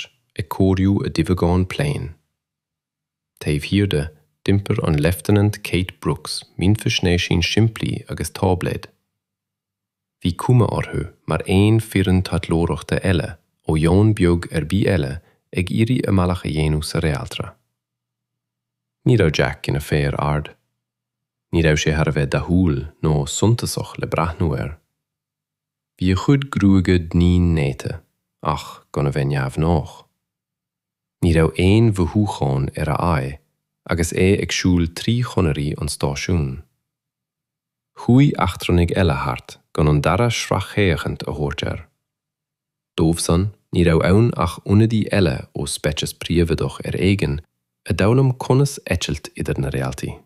Chroílár, ag cóiriú a duibheagáin pléin. Taobh thiar de, d'iompair an Leifteanant Kate Brooks mínfhaisnéisín simplí agus táibléad. Bhí cuma orthu mar aon foireann taidhleoireachta eile ó dhomhan beag ar bith eile ag iarraidh a mbealach a dhéanamh sa réaltra. Ní raibh Jack ina fear ard. Ní raibh sé thar a bheith dathúil nó suntasach le breathnú air. Bhí a chuid gruaige doinne néata ach gan a bheith neamhghnách. Ní raibh aon mhothúcháin ar a aghaidh agus é ag siúl trí chonairí an stáisiúin. Chuaigh eachtrannaigh eile thart gan an dara sracfhéachaint a thabhairt air. Dóibhsan ní raibh ann ach ionadaí eile ó speiceas príobhaideach ar éigin a d'fhoghlaim conas eitilt idir na réaltaí.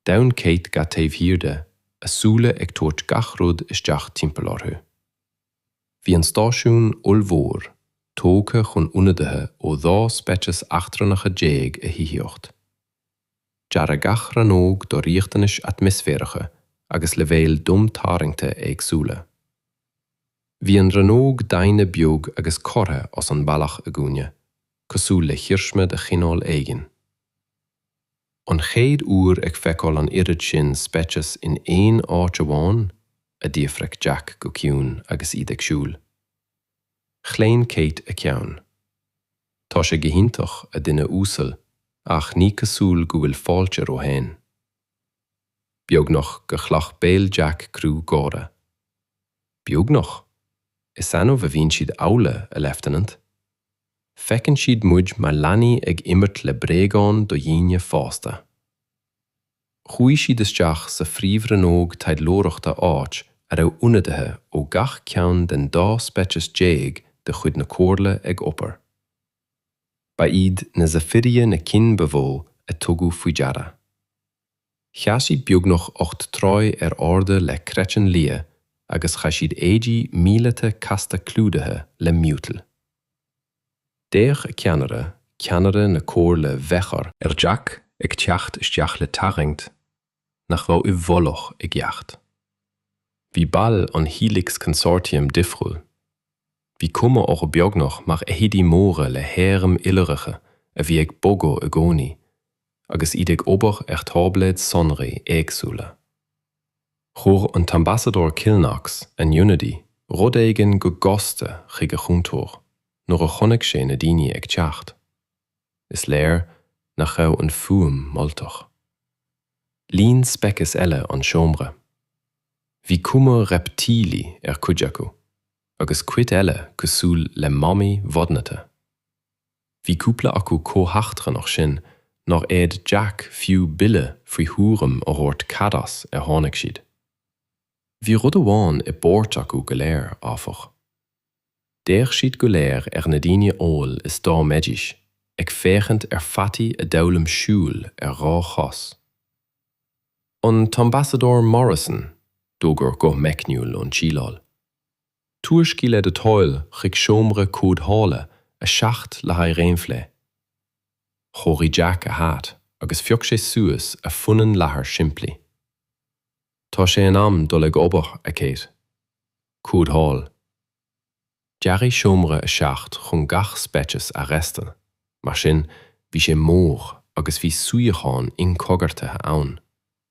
D'fhan Kate gar taobh thiar de, a súile ag tabhairt gach rud isteach timpeall orthu. Bhí an stáisiún ollmhór, tógtha chun ionadaithe ó 12 speiceas eachtrannacha a thithíocht. Dearadh gach rannóg do riachtanais atmaisféaracha agus leibhéil domtarraingte éagsúla. Bhí an rannóg daonna beag agus curtha as an mbealach i gcúinne, cosúil le hiarsma de chineál éigin. An chéad uair ag feiceáil an oiread sin speiceas in aon áit amháin? a d'fhiafraigh Jack go ciúin agus iad ag siúl. Chlaon Kate a ceann. Tá sé go hiontach, a dhuine uasail, ach ní cosúil go bhfuil fáilte romhainn. Beagnach gur ghlac béal Jack cruth gáire. Beagnach? Is annamh a bhíonn siad amhlaidh, a leifteanant. Feiceann siad muid mar leanaí ag imirt le bréagáin do dhaoine fásta. Chuaigh siad isteach sa phríomhrannóg taidhleoireachta áit a raibh ionadaithe ó gach ceann den dá speiceas déag de chuid na Comhairle ag obair. Ba iad na Zephyria na cinn ba mhó a tugadh faoi deara. Sheas siad beagnach ocht dtroigh ar airde le craiceann liath agus chaith siad éidí míleata casta clúdaithe le miotal. D'fhéach a ceannaire, ceannaire na Comhairle Bheachar, ar Jack ag teacht isteach le tarraingt nach raibh i bhfolach i gceart. Bhí baill an Helix Consortium difriúil. Bhí cuma orthu beagnach mar fheithidí móra le hairm iolracha a bhí ag bogadh i gcónaí agus iad ag obair ar tháibléid sonraí éagsúla. Chuir an tAmbasadóir Kilknox an Unity rud éigin go gasta chuig a chúntóir nuair a chonaic sé na daoine ag teacht. Is léir nach raibh an fuaim moltach. Líon speiceas eile an seomra. Bhí cuma reiptílí ar cuid acu. agus cuid eile cosúil le mamaigh mhodhnaithe. Bhí cúpla acu chomh heachtrannach sin nár fhéad Jack fiú buille faoi thuairim a thabhairt cad as ar tháinig siad. Bhí rud amháin i bpáirt acu go léir, áfach. D'fhéach siad go léir ar na daoine amhail is dá mbeidís ag féachaint ar pheataí a d'fhoghlaim siúl ar dhá chos. An tAmbasadóir Morrison, d'fhógair guth meicniúil ón tsíleáil, Tuairscigh le do thoil chuig seomra comhdhála a 7 le haghaidh réamhphlé. Chóirigh Jack a hat agus phioc sé suas a phunann leathair shimplí. Tá sé in am dul ag obair, a Kate. Comhdháil. Dearadh Seomra a 7 chun gach speiceas a fhreastal, mar sin bhí sé mór agus bhí suíocháin inchoigeartaithe ann.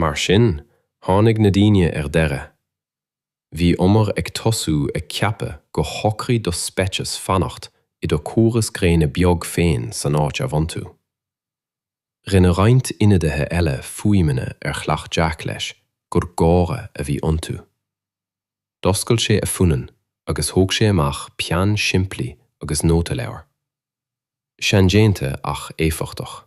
Mar sin, tháinig na daoine ar deireadh. Bhíomar ag tosú ag ceapadh go shocraigh do speiceas fanacht i do chóras gréine beag féin san áit a bhain tú. Rinne roinnt ionadaithe eile fuaimeanna ar ghlac Jack leis gur gáire a bhí iontu. D'oscail sé a phunann agus thóg sé amach peann simplí agus nótaleabhar. Seandéanta ach éifeachtach.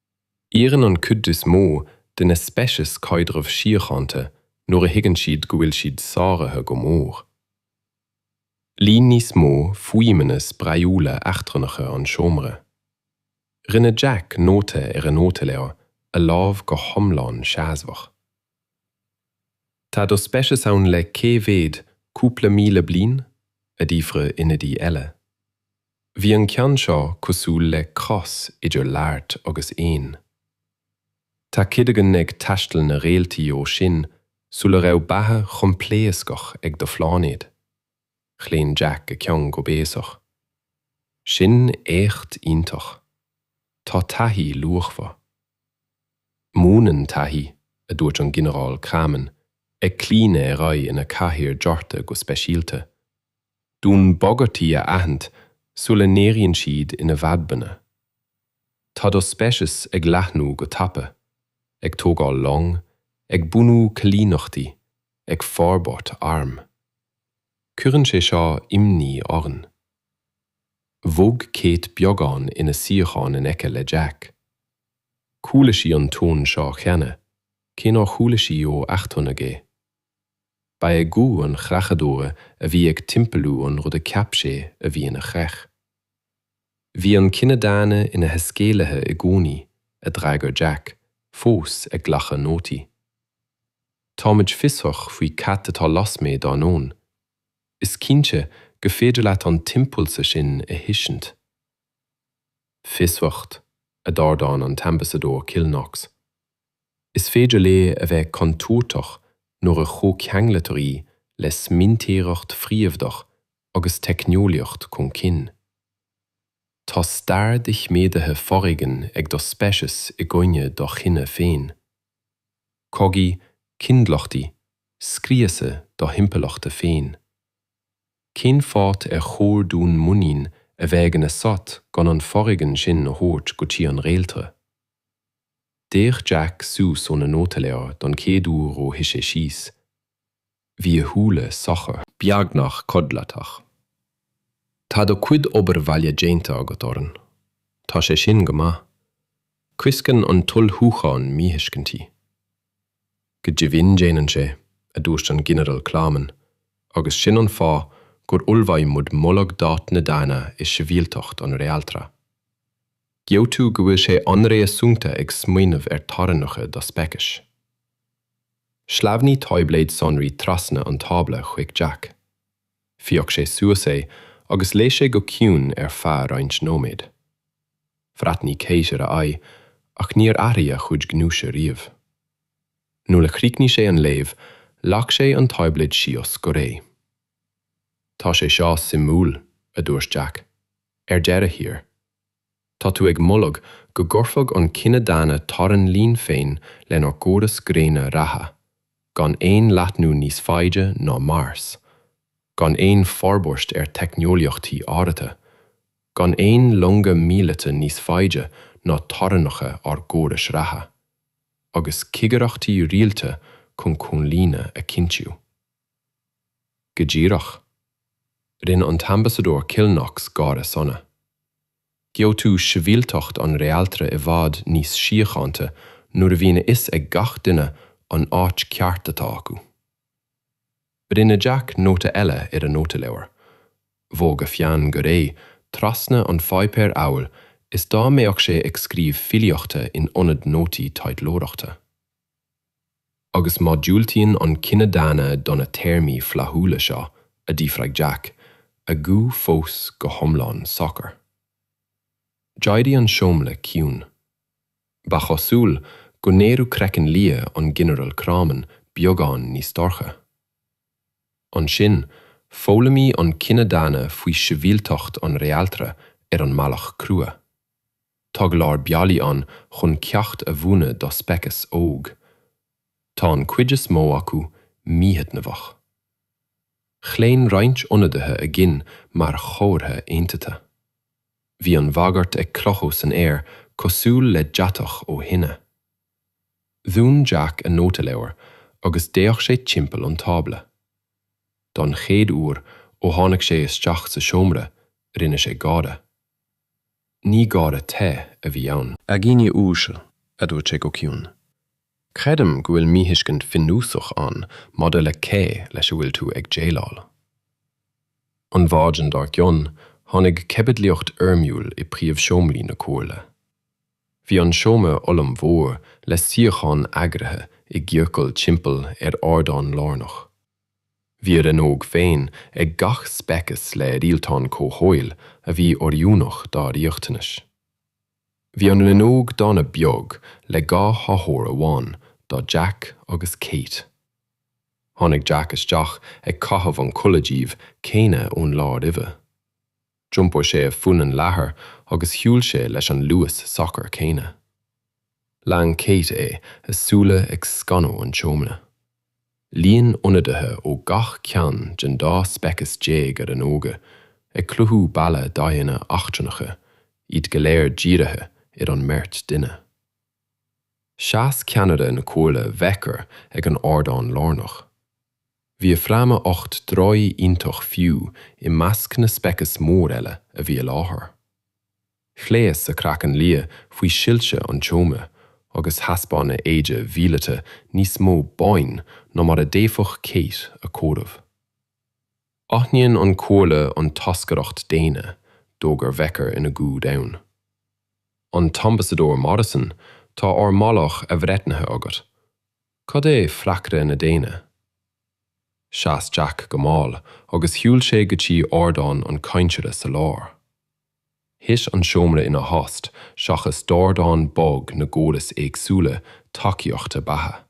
Iarrann an chuid is mó de na speicis caidreamh síochánta nuair a thuigeann siad go bhfuil siad sáraithe go mór. Líon níos mó fuaimeanna spraíúla eachtrannacha an seomra. Rinne Jack nóta ar an nótaleabhar, a lámh go hiomlán seasmhach. Tá do speiceas ann le cé mhéad cúpla míle bliain? a d'fhiafraigh ionadaí eile. Bhí an ceann seo cosúil le cros idir laghairt agus éan. Tá Cadogan ag taisteal na réaltaí ó sin sula raibh beatha choimpléascach ag do phláinéad. Chlaon Jack a cheann go béasach. Sin éacht iontach. Tá taithí luachmhar. Múineann taithí, a dúirt an Ginearál Kramen, ag claonadh ar aghaidh ina chathaoir deartha go speisialta. dúinn bagairtí a aithint sula n-éiríonn siad ina bhfadhbanna. Tá do speiceas ag leathnú go tapa, ag tógáil long, ag bunú coilíneachtaí, ag forbairt arm. Cuireann sé seo imní orainn. Bhog Kate beagán ina suíochán in aice le Jack. Chuala sí an tón seo cheana, cé nár chuala sí ó eachtrannach é. Ba é guth an chreachadóra a bhí ag timpeallú an rud a cheap sé a bhí ina chreach. Bhí an cine daonna ina thaiscéalaithe i gcónaí, a d'fhreagair Jack, fós ag glacadh nótaí. Táimid fiosrach faoi cad atá lasmuigh dár ndomhan. Is cinnte gur féidir leat an t-impulsa sin a thuiscint. Fiosracht, a d'ardáin an tAmbasadóir Kilknox. Is féidir léi a bheith contúirteach nuair a chomhceanglaítear í le smaointeoireacht phríomhaíoch agus teicneolaíocht chun cinn. Tá stair doiciméadaithe foréigin ag do speiceas i gcoinne do chine féin. Cogaí, coinbhleachtaí, scriosadh do thimpeallachta féin. Cén fáth ar chóir dúinn muinín a bheith againn asat gan an foréigean sin a thabhairt go dtí an réaltra? D'fhéach Jack suas óna nótaleabhar don chéad uair ó shuigh sé síos. Bhí a shúile socair. beagnach codlatach. Tá do chuid obair bhaile déanta agat orainn. Tá sé sin go maith. Coisceann an t-ullmhúchán míthuiscintí. Go deimhin déanann sé, a dúirt an Ginearal Kleiman, agus sin an fáth gur ullmhaigh muid moladh d'áit na daoine i sibhialtacht an Réaltra. Gheobhaidh tú go bhfuil sé an-réasúnta ag smaoineamh ar theorainneacha do speicis. Shleamhnaigh táibléad sonraí trasna an tábla chuig Jack. Phioc sé suas é agus léigh sé go ciúin ar feadh roinnt nóiméad. Bhreathnaigh Kate ar a aghaidh ach níor athraigh a chuid gnúise riamh. Nuair a chríochnaigh sé an léamh, leag sé an táibléad síos go réidh. Tá sé seo suimiúil, a dúirt Jack. Ar deireadh thiar. Tá tú ag moladh go gcuirfeadh an cine daonna teorainn linn féin lenár gcóras gréine reatha, gan aon leathnú níos faide ná Mars, gan aon forbairt ar theicneolaíochtaí áirithe, gan aon longa míleata níos faide ná teorainneacha ár gcórais reatha, agus cigireachtaí rialta chun comhlíonadh a chinntiú. Go díreach, rinne an tAmbasadóir Kilknox gáire sona. Gheobhaidh tú sibhialtacht an réaltra i bhfad níos síochánta nuair a bhíonn a fhios ag gach duine an áit ceart atá acu. Rinne Jack nóta eile ar a nótaleabhar, Bhog a pheann go réidh trasna an pháipéir amhail is dá mbeadh sé ag scríobh filíochta in ionad nótaí taidhleoireachta. Agus má dhiúltaíonn an cine daonna do na téarmaí flaithiúla seo, a d'fhiafraigh Jack, a ghuth fós go hiomlán socair. D'éirigh an seomra ciúin. Ba chosúil go n-éireodh craiceann liath an Ghinearail Craughman beagán níos dorcha. Ansin, foghlaimeoidh an cine daonna faoi shibhialtacht an Réaltra ar an mbealach crua. Tá go leor bealaí ann chun ceacht a mhúineadh do speiceas óg. Tá an chuid is mó acu míthaitneamhach. Chlaon roinnt ionadaithe a gcinn mar chomhartha aontaithe. Bhí an bhagairt ag crochadh san aer cosúil le deatach ó thine. Dhún Jack a nótaleabhar agus d'fhéach sé timpeall an tábla. Don chéad uair ó tháinig sé isteach sa seomra, rinne sé gáire. Ní gáire te a bhí ann. A dhaoine uaisle, a dúirt sé go ciúin, creidim go bhfuil míthuiscint bhunúsach ann maidir le cé leis a bhfuil tú ag déileáil. An mhaidin dár gcionn tháinig caibidlíocht fhoirmiúil i bpríomhseomraí na comhairle. Bhí an seomra ollmhór le suíocháin eagraithe i gciorcal timpeall ar ardán lárnach. Bhí a rannóg féin ag gach speiceas le rialtáin comhshaoil a bhí oiriúnach dá riachtanais. Bhí an rannóg dhaonna beag le dhá chathaoir amháin do Jack agus Kate. Tháinig Jack isteach ag caitheamh an chulaith dhuibh chéanna ón lá roimhe. D'iompair sé a phunann leathair agus shiúil sé leis an luas socair céanna. Lean Kate é, a súile ag scanadh an tseomra. Líon ionadaithe ó gach ceann den dá speiceas déag a rannóga, ag cruthú balla d'aghaidheanna eachtrannacha, iad go léir dírithe ar an mbeirt duine. Sheas ceannaire na comhairle Vecker ag an ardán lárnach. Bhí a fráma ocht dtroigh iontach fiú i measc na speiceas mór eile a bhí i láthair. Ghléas a craiceann liath faoi shoilse an tseomra agus thaispeáin a éide mhíleata níos mó boinn ná mar a d'fhéadfadh Kate a chomhaireamh. Aithníonn an Chomhairle an toscaireacht dhaonna, d'fhógair Vecker i nguth domhain. An tAmbasadóir Morrison, tá ár moladh athbhreithnithe agat. Cad é freagra na daonna? Sheas Jack go mall agus shiúil sé go dtí ardán an chainteora sa lár. Thit an seomra ina thost seachas dordán bog na gcóras éagsúla tacaíochta beatha.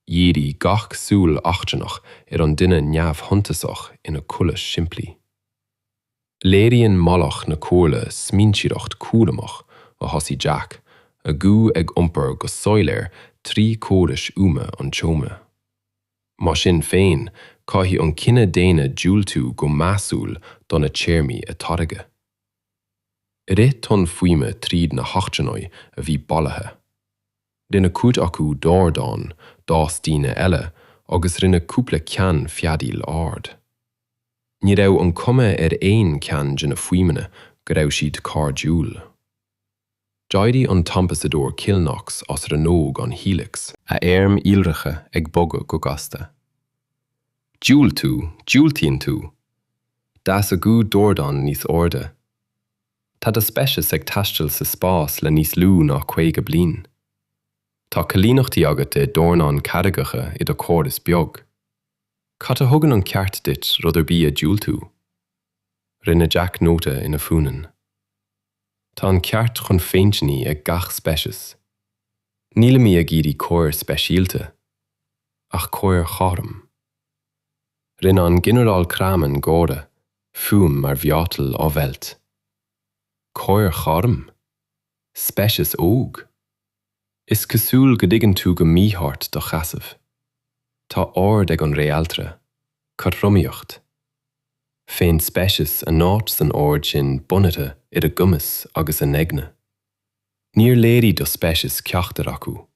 Dhírigh gach súil eachtrannach ar an duine neamhshuntasach ina chulaith shimplí. Léiríonn moladh na Comhairle smaointeoireacht chúramach a thosaigh Jack, a ghuth ag iompar go soiléir trí chórais fhuaime an tseomra. Mar sin féin, caithfidh an cine daonna diúltú go measúil do na téarmaí a tairgeadh. Rith tonn fuaime tríd na heachtrannaigh a bhí bailithe. Rinne cuid acu dordán, d'fhás daoine eile, agus rinne cúpla ceann feadaíl ard. Ní raibh an cuma ar aon cheann de na fuaimeanna go raibh siad cairdiúil. D'éirigh an t-ambasadóir Kilnox as rannóg an Helix, a airm iolracha ag bogadh go gasta. Diúltú, diúltaíonn tú! D'fhás a ghuth dordán níos airde. Tá do speiceas ag taisteal sa spás le níos lú ná 50 bliain. Tá coilíneachtaí agat ar dhornán carraigeacha i do chóras beag. Cad a thugann an ceart duit rud ar bith a dhiúltú? Rinne Jack nóta ina Funin. Tá an ceart chun féinchinnidh ag gach speiceas. Nílimí ag iarraidh cóir speisialta, ach cóir chothrom. Rinne an Ginearál Kramann gáire, fuaim mar mhiotal á mheilt. Cóir chothrom? Speiceas óg? Is cosúil go dtuigeann tú go mícheart do sheasamh. Tá ord ag an Réaltra, cothromaíocht. Faigheann speiceas a n-áit san ord sin bunaithe ar a gcumas agus a n-eagna. Níor léirigh do speiceas ceachtar acu.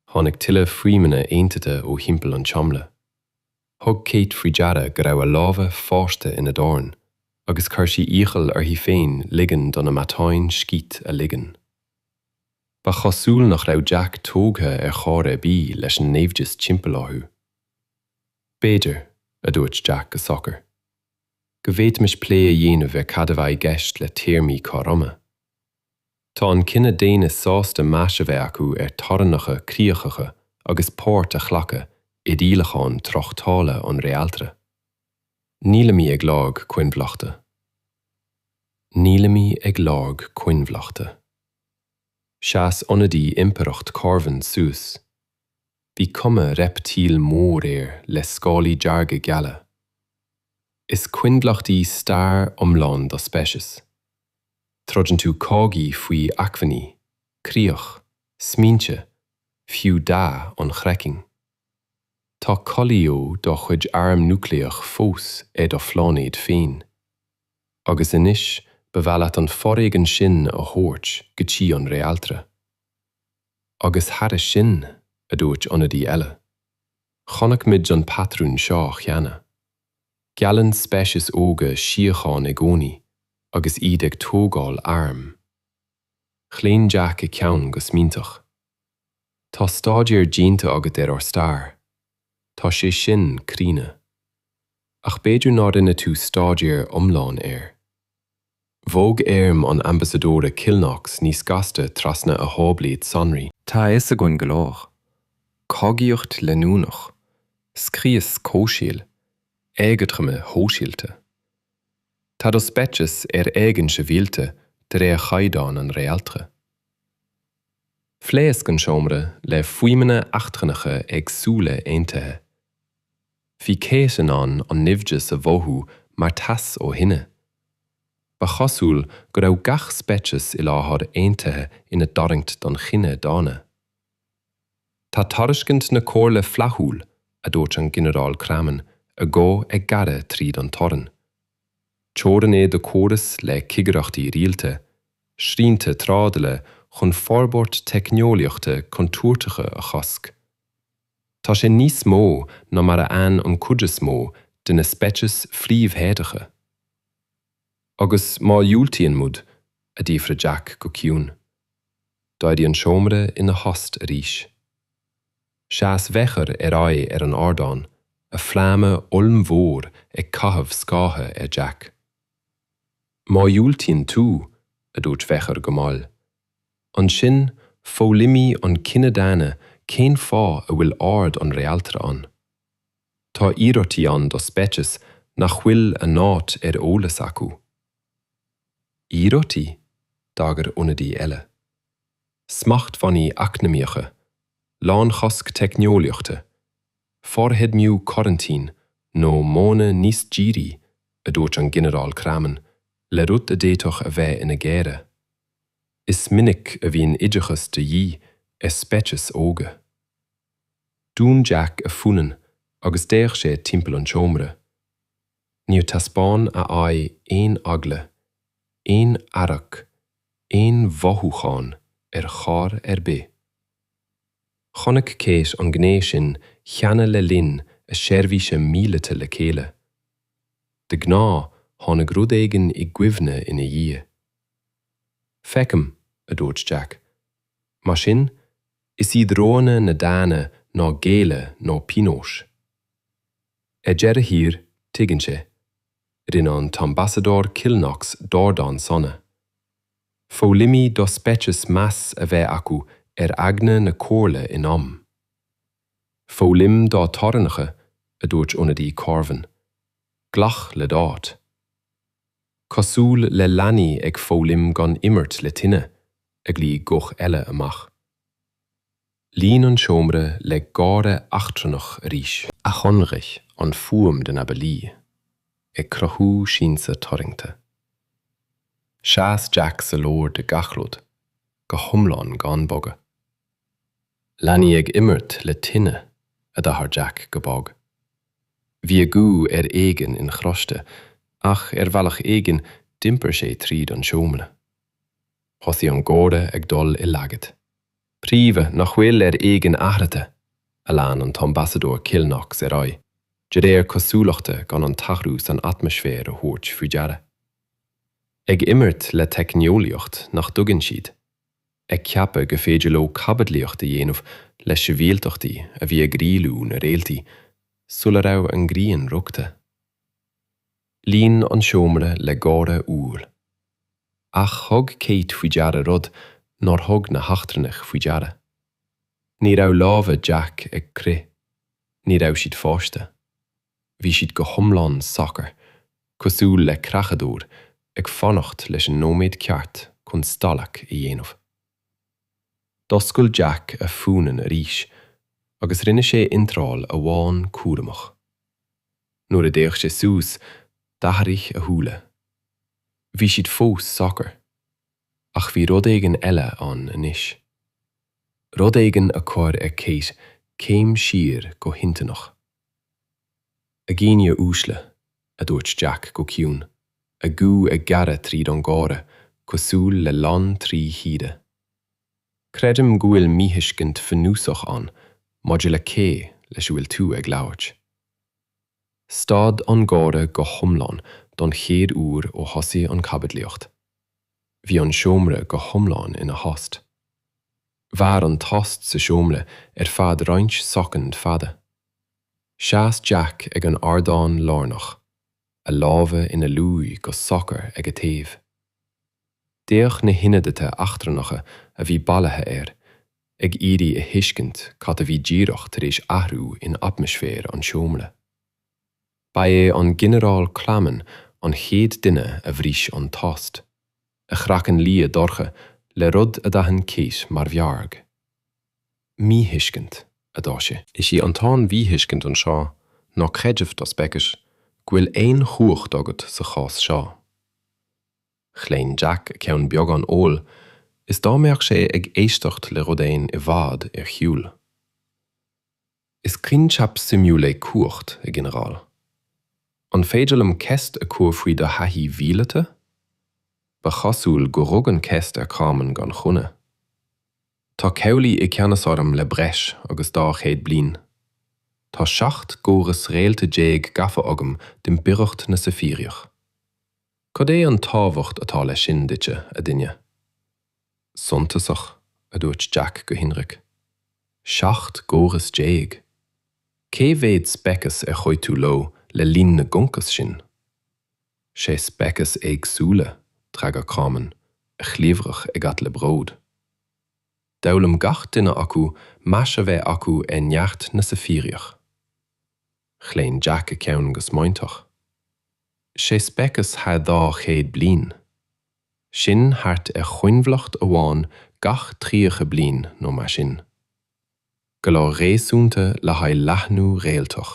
Tháinig tuilleadh fuaimeanna aontaithe ó thimpeall an tseomra. Thug Kate faoi deara go raibh a lámha fáiscthe ina dorn agus chuir sí iachall uirthi féin ligean do na matáin scíth a ligean. Ba chosúil nach raibh Jack tógtha ar chor ar bith leis an naimhdeas timpeall orthu. B'fhéidir, a dúirt Jack go socair, go bhféadfaimis plé a dhéanamh ar cad a bheadh i gceist le téarmaí cothroime. Tá an cine daonna sásta meas a bheith acu ar theorainneacha críochacha agus páirt a ghlacadh i rialacháin tráchtála an Réaltra. Nílimid ag lorg coinbhleachta. Nílimid ag lorg coinbhleachta. Sheas ionadaí Impireacht Corvin suas. Bhí cuma reiptíl mhór air le scálaí dearga geala. Is coinbhleacht í stair iomlán do speicis. Troideann tú cogaí faoi acmhainní, críoch, smaointe, fiú dath an chraicinn. Tá cuilithe do chuid arm núicléach fós ar do phláinéad féin. Agus anois ba mhaith leat an foréigean sin a thabhairt go dtí an réaltra. Agus thairis sin, a dúirt ionadaí eile, chonaic muid an patrún seo cheana. Geallann speicis óga síocháin i gcónaí agus iad ag tógáil arm. Chlaon Jack a ceann go smaointeach. Tá staidéar déanta agat ar ár stair. Tá sé sin críonna. Ach b'fhéidir nár rinne tú staidéar iomlán air. Bhog éirim an Ambasadóra Kilnox níos gasta trasna a tháibléad sonraí. Tá a fhios againn go leor. Cogaíocht leanúnach, scrios comhshaoil, éagothroime shóisialta. Tá do speiceas ar éigean sibhialta de réir chaighdeáin an réaltra. Phléasc an seomra le fuaimeanna eachtrannacha éagsúla aontaithe. Bhí Kate in ann an naimhdeas a mhothú mar teas ó thine. Ba chosúil go raibh gach speiceas i láthair aontaithe ina dtarraingt don chine daonna. Tá tairiscint na comhairle flaithiúil, a dúirt an Ginearál Craman, a ghuth ag gearradh tríd an torann. Teorainn é do córas le cigireachtaí rialta, srianta trádala chun forbairt teicneolaíochta contúirteacha a chosc. Tá sé níos mó ná mar a fhaigheann an chuid is mó de na speicis phríomhthéadacha. Agus má dhiúltaíonn muid? a d'fhiafraigh Jack go ciúin. D'éirigh an seomra ina thost arís. Sheas Mheachair ar aghaidh ar an ardán, a fráma ollmhór ag caitheamh scátha ar Jack. Má dhiúltaíonn tú, a dúirt Mheachair go mall, Ansin, foghlaimoídh an cine daonna cén fáth a bhfuil ord an réaltra ann. Tá iarmhairtí ann do speicis nach bhfuil a n-áit ar eolas acu. Iarmhairtí? d'agair ionadaí eile. Smachtbhannaí eacnamaíocha, lánchosc teicneolaíochta, forfheidmiú coraintín nó modhanna níos dírí, a dúirt an Ginearál Craman le rud a d'fhéadfadh a bheith ina gháire. Is minic a bhíonn oideachas de dhíth ar speicis óga. Dhún Jack a phunann agus d'fhéach sé timpeall an tseomra. Níor taispeáin a aghaidh aon eagla, aon fhearg, aon mhothúchán ar chor ar bith. Chonaic Kate an ghné sin cheana le linn a seirbhíse míleata le chéile. De ghnáth tháinig rud éigin i gcuimhne ina dhiaidh. Feicim, a dúirt Jack. Mar sin, is iad roghanna na ndaoine ná géilleadh nó pionós. Ar deireadh thiar, tuigeann sé, rinne an tAmbasadóir Kilnox dordán sona. Foghlaimeoidh do speiceas meas a bheith acu ar eagna na comhairle in am. Foghlaim do teorainneacha, a dúirt ionadaí Corvin. Glac le d'áit. cosúil le leanaí ag foghlaim gan imirt le tine a ghlaoigh guth eile amach. Líon an seomra le gáire eachtrannach arís. a shainraigh an fuaim de na ballaí, ag cruthú siansa tarraingte. Sheas Jack sa lár de gach rud, go hiomlán gan bogadh. Leanaí ag imirt le tine, a d'athráigh Jack go bog. Bhí a ghuth ar éigean inchloiste ach ar bhealach éigin d'iompair sé tríd an seomra. Thosaigh an gáire ag dul i laghad. 'Príomhaigh nach bhfuil ar éigean athraithe! a lean an tAmbasadóir Kilnox ar aghaidh, de réir cosúlachta gan an t-athrú san atmaisféar a thabhairt faoi deara. 'Ag imirt le teicneolaíocht nach dtuigeann siad. ag ceapadh gur féidir leo caibidlíocht a dhéanamh le sibhialtachtaí a bhí ag rialú na réaltaí sula raibh an ghrian rugtha. Líon an seomra le gáire umhal. Ach thug Kate faoi deara rud nár thug na heachtrannaigh faoi deara. Ní raibh lámha Jack ag crith. Ní raibh siad fáiscthe. Bhí siad go hiomlán socair, cosúil le creachadóir ag fanacht leis an nóiméad ceart chun stailc a dhéanamh. D'oscail Jack a phunann arís agus rinne sé iontráil amháin cúramach. Nuair a d'fhéach sé suas, d'athraigh a shúile. Bhí siad fós socair, ach bhí rud éigin eile ann anois. Rud éigin a chuir ar Kate céim siar go hinstinneach. A dhaoine uaisle, a dúirt Jack go ciúin, a ghuth ag gearradh tríd an ngáire cosúil le lann trí shíoda. Creidim go bhfuil míthuiscint bhunúsach ann maidir le cé leis a bhfuil tú ag labhairt. Stad an gáire go hiomlán don chéad uair ó thosaigh an chaibidlíocht. Bhí an seomra go hiomlán ina thost. Mhair an tost sa seomra ar feadh roinnt soicind fada. Sheas Jack ag an ardán lárnach, a lámha ina luí go socair ag a thaobh. D'fhéach na hionadaithe eachtrannacha a bhí bailithe air, ag iarraidh a thuiscint cad a bhí díreach tar éis athrú in atmaisféar an tseomra. Ba é an Ginearál Clamon an chéad duine a bhris an tost, a chraiceann liath dorcha le rud a d'aithin Kate mar fhearg. 'Míthuiscint, a dúirt sé. 'Is í an t-aon mhíthuiscint anseo ná creideamh do speicis go bhfuil aon chumhacht agat sa chás seo. Chlaon Jack a cheann beagán amhail is dá mbeadh sé ag éisteacht le rud éigin i bhfad ar shiúl. Is coincheap suimiúil é cumhacht, a Ghinearáil. An féidir liom ceist a chur faoi do thaithí mhíleata? Ba chosúil gur rug an cheist ar Charman gan choinne. Tá cabhlaigh i gceannas orm le breis agus dhá chéad bliain. Tá seacht gcóras réalta déag gafa agam d'Impireacht na Saifíreach. Cad é an tábhacht atá leis sin duitse, a dhuine? suntasach, a dúirt Jack go hionraic. Seacht gcóras déag! Cé mhéad speiceas ar chuaigh tú leo le linn na gconcas sin? Sé speiceas éagsúla, d'fhreagair Carmen, a chliabhrach ag at le bród. D'fhoghlaim gach duine acu meas a bheith acu ar neart na saifiríoch. Chlaon Jack a cheann go smaointeach. Sé speiceas thar dhá chéad bliain! sin thart ar choinbhleacht amháin gach tríocha bliain nó mar sin, go leor réasúnta le haghaidh leathnú réaltach.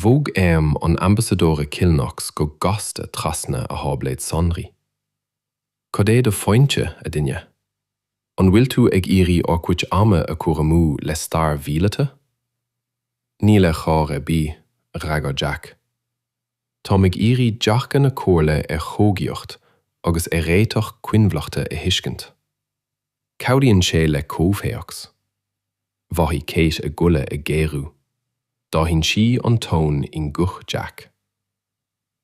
Bhog airm an Ambasadóra Kilnox go gasta trasna a tháibléad sonraí. Cad é do phointe, a dhuine? An bhfuil tú ag iarraidh ár gcuid ama a chur amú le stair mhíleata? Níl ar chor ar bith, a d'fhreagair Jack. Táim ag iarraidh dearcadh na Comhairle ar chogaíocht agus ar réiteach coinbhleachta a thuiscint. Cabhraíonn sé le comhthéacs. Mhothaigh Kate a goile ag géarú. D'aithin sí an ton i nguth Jack.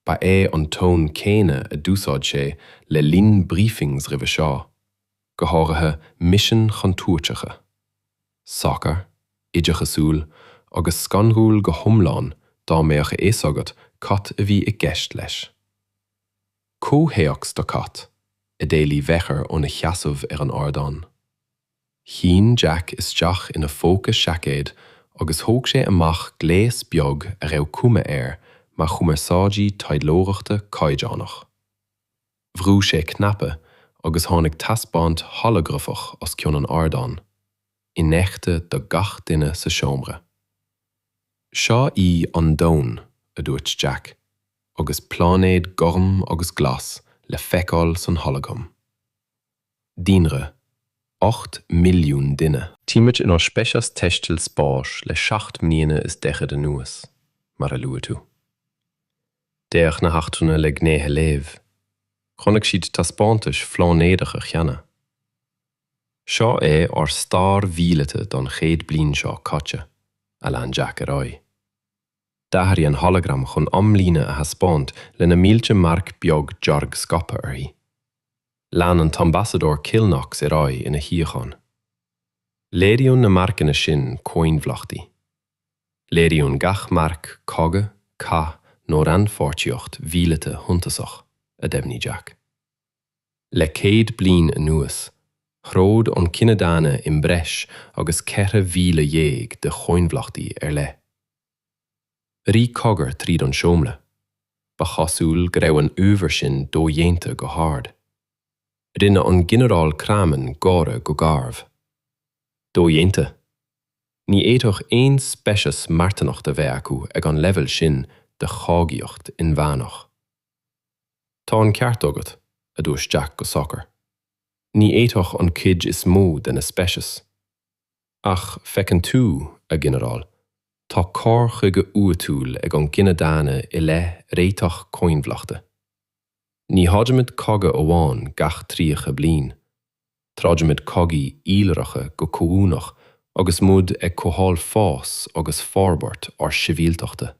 Ba é an ton céanna a d'úsáid sé le linn briefings roimhe seo, go háirithe misin chontúirteacha. socair, oideachasúil agus scanrúil go hiomlán dá mbeadh a fhios agat cad a bhí i gceist leis. Comhthéacs do cad? a d'éiligh Mheachair óna sheasamh ar an ardán. Shín Jack isteach ina phóca seaicéid agus thóg sé amach gléas beag a raibh cuma air mar chumarsáidí taidhleoireachta caighdeánach. Bhrú sé cnaipe agus tháinig taispeáint holagrafach os cionn an ardáin, infheicthe do gach duine sa seomra. Seo í an domhan, a dúirt Jack, agus pláinéad gorm agus glas le feiceáil san holagram. Daonra, ocht mbilliún duine. Táimid inár speiceas taistil spáis le seacht mbliana is daichead anuas, mar a luaigh tú. D'fhéach na heachtrannaigh le gnéithe leamha. Chonaic siad taispeántais phláinéadacha cheana. Seo é ár stair mhíleata don chéad bliain seo caite, a lean Jack ar aghaidh. D'athraigh an holagram chun amlíne a thaispeáint le na mílte marc beag dearg scaipthe uirthi. Chlaon an tAmbasadóir Killknox ar aghaidh ina shuíochán. Léiríonn na marcanna sin coinbhleachtaí. Léiríonn gach marc cogadh, cath nó rannpháirtíocht mhíleata shuntasach, a dheimhnigh Jack. Le céad bliain anuas, throid an cine daonna i mbreis agus 14,000 de choinbhleachtaí ar leith. Rith cogar tríd an seomra. Ba chosúil go raibh an uimhir sin dodhéanta go hard. Rinne an Ginearál Craman gáire go garbh. Dodhéanta? Ní fhéadfadh aon speiceas marthanacht a bheith acu ag an leibheal sin de chogaíocht inmheánach. Tá an ceart agat, a dúirt Jack go socair. Ní fhéadfadh an cuid is mó de na speicis. Ach, feiceann tú, a Ghinearáil, tá cur chuige uathúil ag an gcine daonna i leith réiteach coinbhleachta. Ní throidimid cogadh amháin gach tríocha bliain. Troidimid cogaí iolracha go comhuaineach agus muid ag cothabháil fás agus forbairt ár sibhialtachta.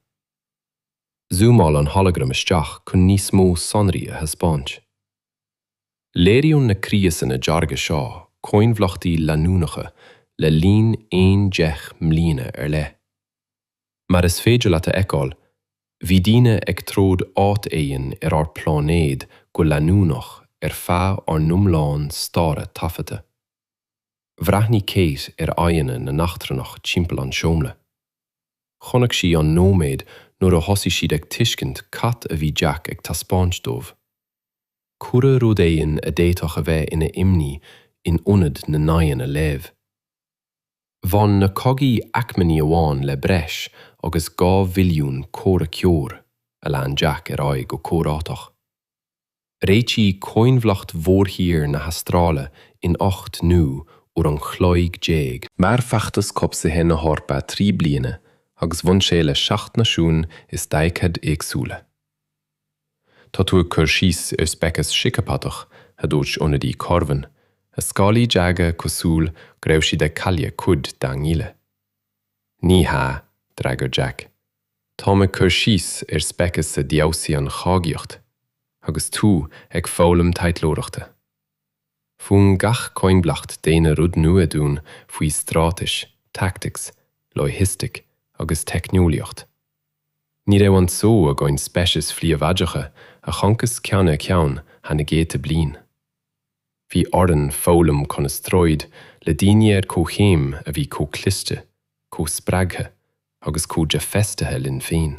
Zúmáil an holagram isteach chun níos mó sonraí a thaispeáint. Léiríonn na criosanna dearga seo coinbhleachtaí leanúnacha le linn aon deich mbliana ar leith. Mar is féidir leat a fheiceáil, bhí daoine ag troid áit éigin ar ár bpláinéad go leanúnach ar feadh ár n-iomlán staire taifeadta. Bhreathnaigh Kate ar aghaidheanna na n-eachtrannach timpeall an tseomra. Chonaic sí an nóiméad nuair a thosaigh siad ag tuiscint cad a bhí Jack ag taispeáint dóibh. Cuireadh rud éigin a d'fhéadfadh a bheith ina imní in ionad na n-aghaidheanna leamha. Bhain na cogaí acmainní amháin le breis agus dhá mhilliún comhraiceoir a lean Jack ar aghaidh go comhráiteach. Réitíodh coinbhleacht mhórthír na hAstráile in ocht n-uair an chloig déag. Mhair feachtas cobhsaithe na hEorpa trí bliana agus bhain sé le seacht náisiún is daichead éagsúla. Tá tú ag cur síos ar speiceas síceapatach, a dúirt ionadaí Korvan, a scálaí dearga cosúil go raibh siad ag cailleadh cuid dá ngile. Ní hea, d'fhreagair Jack. Táim ag cur síos ar speiceas a d'fheabhsaigh an chogaíocht agus tú ag foghlaim taidhleoireachta. Mhúin gach coinbhleacht daonna rud nua dúinn faoi straitéis, tactics, loighistic agus teicneolaíocht. Ní raibh an só againn speicis phríobháideacha a choncas ceann ar cheann thar na gcéadta bliain. Bhí orainn foghlaim conas troid le daoine ar comhchéim a bhí chomh cliste, chomh spreagtha agus chomh dea-fheistithe linn féin.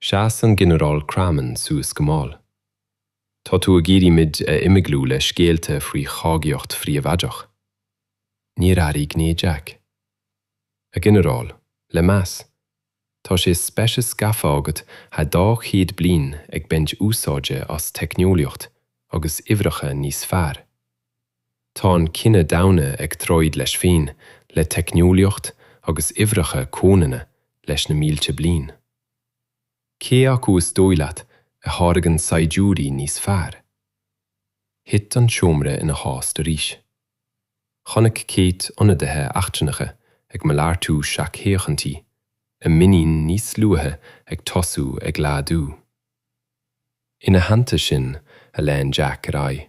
Sheas an Ginearál Craman suas go mall. Tá tú ag iarraidh muid a imeaglú le scéalta faoi chogaíocht phríobháideach. Níor athraigh gné Jack. A Ghinearáil, le meas, tá sé speiceas gafa agat thar dhá chéad bliain ag baint úsáide as teicneolaíocht agus uimhreacha níos fearr Tá an cine daonna ag troid leis féin, le teicneolaíocht agus uimhreacha comhionanna leis na mílte bliain. Cé acu is dóigh leat a tháirgeann saighdiúirí níos fearr? Thit an seomra ina thost arís. Chonaic Kate ionadaithe eachtrannacha ag malartú seachfhéachaintí, a muinín níos luaithe ag tosú ag laghdú. Ina theannta sin, a lean Jack ar aghaidh,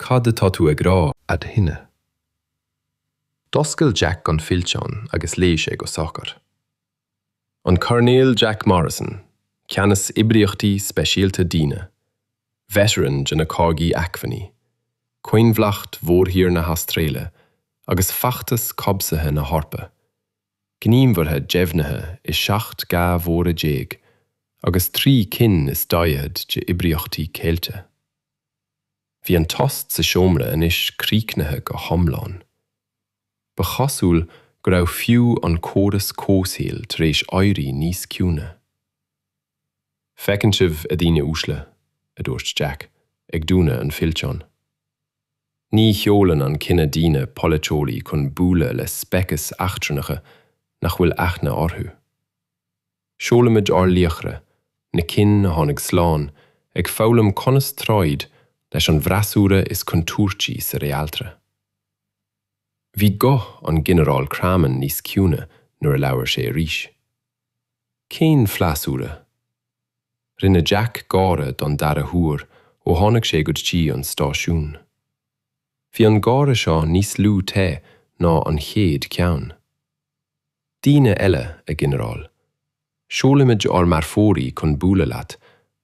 Cad atá tú ag rá? aduaine. D'oscail Jack an fillteán agus léigh sé go socair. An Coirnéal Jack Morrison, Ceannas Oibríochtaí Speisialta Daonna, Veteran de na Cogaí Acmhainní, Coinbhleacht Mhórthír na hAstráile agus Feachtas Cobhsaithe na hEorpa, Gníomhartha Deimhnithe i 17 gcath mhóra agus 3 cinn is 40 de Oibríochtaí Ceilte. Bhí an tost sa seomra anois críochnaithe go hiomlán. Ba chosúil go raibh fiú an córas comhshaoil tar éis éirí níos ciúine. Feiceann sibh, a dhaoine uaisle, a dúirt Jack, ag dúnadh an fillteáin. Ní sheolann an cine daonna polaiteoirí chun bualadh le speicis eachtrannacha nach bhfuil aithne orthu. Seolaimid ár laochra, na cinn a tháinig slán, ag foghlaim conas troid leis an bhfreasúra is contúirtí sa Réaltra. Bhí guth an Ghinearáil Craman níos ciúine nuair a labhair sé arís. Cén freasúra? Rinne Jack gáire don dara huair ó tháinig sé go dtí an stáisiún. Bhí an gáire seo níos lú te ná an chéad cheann. Daoine eile, a Ghinearáil, seolaimid ár marfóirí chun bualadh leat